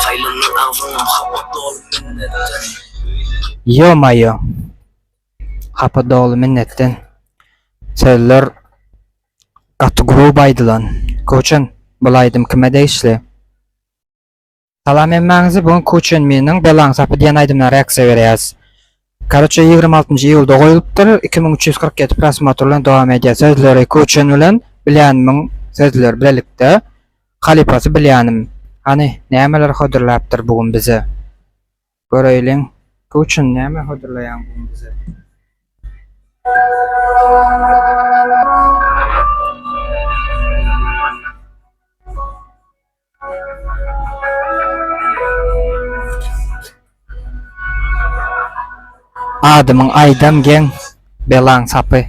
Saýlandyň agzyňa hapa doly minnetden. Ýo-maýo! Hapa doly minnetden. Sözler gaty gruby aýdylan. Kuchen, bul aýdym kime degişli? Salam hemmäňize, bu gün Kuchen Miniň Belaň sapy diýen aýdymyna reaksiýa berýäs. Karoçe ýigrimi altynjy iýulda goýulypdyr iki müň üç ýüz kyrk ýedi prosmotr bilen dowam edýär sözleri Kuçin bilen Bilýanimiň sözleri bilelikde halypasy Bilýanim hany nämeler hodurlapdyr bu gün bize göreýliň Kuçin näme hodurlaýaň bu gün bize. Adymyň Aýdan geň, belaň sapy.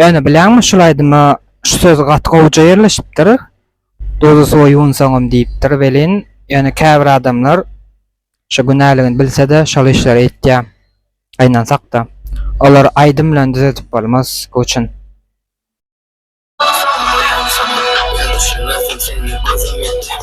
Ýöne bilýäňmi şul aýdyma şu söz gaty gowja ýerleşipdir, Duzy suwa ýuwunsaňam diýipdir welin, ýöne käbir adamlar şu günäligini bilse-de şol işleri etýä. Gynansak-da, olary aýdym bilen düzedip bolmaz, göwçen. Suwa ýuwunsaňam ýüzüne sür seni gözüm ýetdi.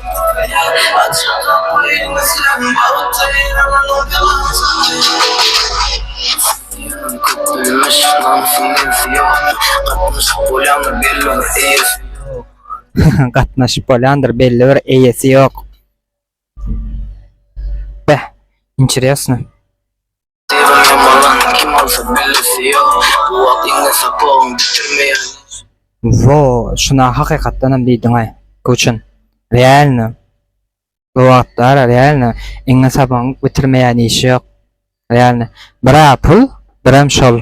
Gatnaşyp bolýandyr belli bir eýesi ýok. Beh, interesno. Diýibem ýamalan kim bolsa bellisi ýok Bu wagt iňňe sapagyň düşürmeýär nesi. Wo şuna hakykatdanam diýdiňaý Guçin realno bu wagtlar realno iňňe sapagyň bitirmeýän işi ýok realno bira pul biram şol.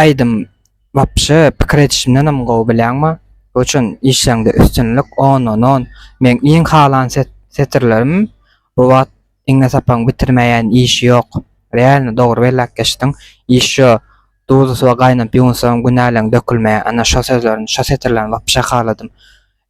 Aýdym wapşe pikir edişimdenem gowy bilýäňmi bu üçin işleňde üstünlik ondan on meň iň halan setirlerim bu wagt iňňe sapaň bitirmäýän işi ýok realno dogry belläp geçdiň iş şo duzy suwa gaýnap ýuwunsagam günäleň dökülmeýär ana şo sözlerini şo setirlerini wapşe haladym